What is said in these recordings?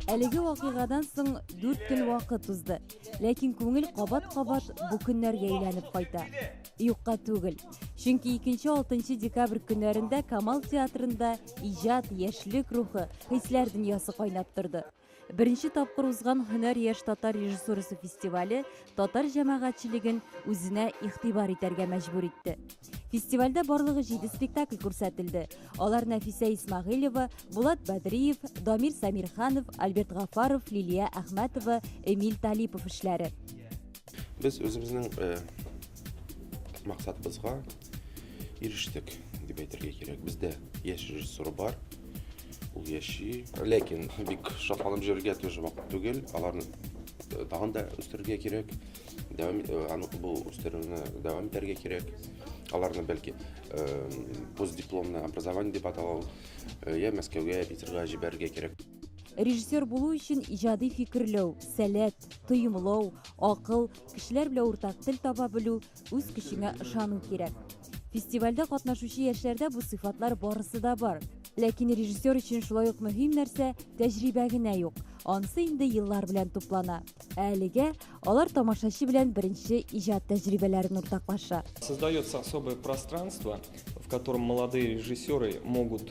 Әлеге вакыйгадан соң 4 көн вакыт узды. Ләкин күңел кабат-кабат бу көннәргә әйләнеп кайта. Юкка түгел. Чөнки 2-6 декабрь көннәрендә Камал театрында иҗат, яшьлек рухы, хисләр дөньясы кайнап торды. Беренче тапкыр узган Һөнәр яшь татар режиссурасы фестивале татар җәмәгатьчелеген үзенә игътибар итәргә мәҗбүр итте. Фестивальдә барлыгы 7 спектакль күрсәтелде. Алар Нәфисә Исмагыйлева, Булат Бәдриев, Дамир Самирханов, Альберт Гафаров, Лилия Әхмәтова, Эмиль Талипов эшләре. Без үзебезнең э, максатыбызга ирештек дип әйтергә кирәк. Бездә яшь режиссер бар, ул яши. Ләкин бик шатланып җөрергә тоже вакыт түгел. Аларны э, тагын да үстерергә кирәк. Дәвам э, аны бу үстерүне дәвам итәргә кирәк. Аларны бәлки э, постдипломное образование дип аталау, э, я Мәскәүгә, Питерга җибәрергә кирәк. Режиссер булу өчен иҗади фикерләү, сәләт, тоемлау, акыл, кешеләр белән уртак тел таба белү, үз көчеңә ышану кирәк. Фестивальдә катнашучы яшьләрдә бу сыйфатлар барысы да бар. Ләкин режиссер өчен шулай ук мөһим нәрсә тәҗрибә генә юк. Ансы инде еллар белән туплана. Ә әлегә алар тамашачы белән беренче иҗат тәҗрибәләрен уртаклаша. Создается особое пространство, в котором молодые режиссеры могут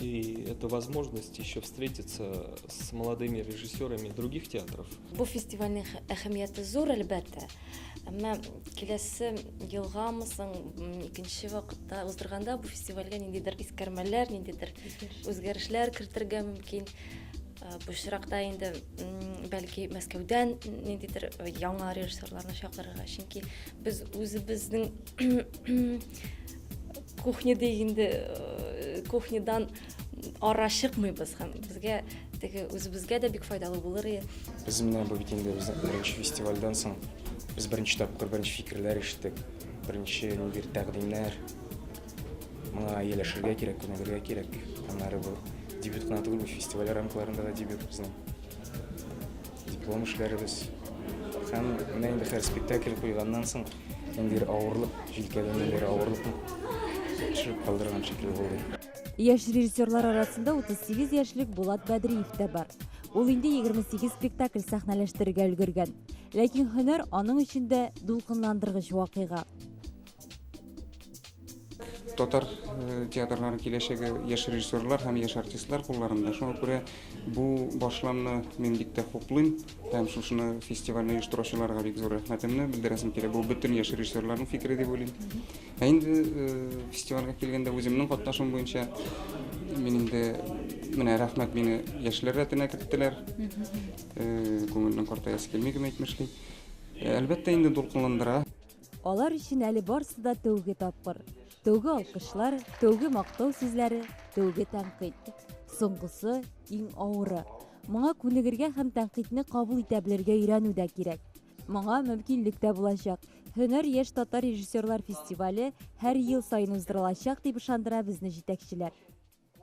И это возможность еще встретиться с молодыми режиссерами других театров. Бу фестивальнең әһәмияте зур, әлбәттә. Әмма киләсе елгамы соң икенче вакытта уздырганда бу фестивальгә ниндидер искәрмәләр, ниндидер үзгәрешләр кертергә мөмкин. Э, бу очракта инде бәлки Мәскәүдән ниндидер э, яңа режиссерларны чакырырга, чөнки без үзебезнең кухня дегенде э, кухнядан ара чыкмыйбыз һәм безгә теге үзебезгә дә бик файдалы булыр иде. Без менә бу бит инде безнең беренче фестивальдән соң без беренче тапкыр беренче фикерләр ишеттек. Беренче нидер тәкъдимнәр. Моңа ияләшергә кирәк, күнегергә кирәк. Аннары бу дебют кына түгел, фестиваль рамкаларында да дебют безнең. Диплом эшләребез һәм менә инде хәзер спектакль куйганнан соң ниндидер авырлык, җилкәдә ниндидер авырлыкны төшереп калдырган шикелле булды. Яшь режиссерлар арасында 38 яшьлек Булат Бәдриев тә бар. Ул инде 28 спектакль сәхнәләштерергә өлгергән. Ләкин һөнәр аның өчен дә дулкынландыргыч вакыйга. татар э, театрлары киләчәге яшь режиссерлар һәм яшь артистлар кулларында шуңа күрә бу башламны мин бик тә хуплыйм һәм шушыны фестивальне оештыручыларга бик зур рәхмәтемне белдерәсем килә бу бөтен яшь режиссерларның фикере дип уйлыйм ә инде э, фестивальгә килгәндә үземнең катнашым буенча мин инде менә рәхмәт мине яшьләр рәтенә керттеләр э, күңелнең картаясы килми кем әйтмешли әлбәттә инде дулкынландыра Алар өчен әле барсы да тәүге тапкыр. Тәүге алкышлар, тәүге мактау сүзләре, тәүге тәнкыйть. Соңгысы иң авыры. Моңа күнегергә һәм тәнкыйтьне кабул итә белергә өйрәнү дә кирәк. Моңа мөмкинлек тә булачак. Һөнәр яшь татар режиссерлар фестивале һәр ел саен уздырылачак, дип ышандыра безне җитәкчеләр.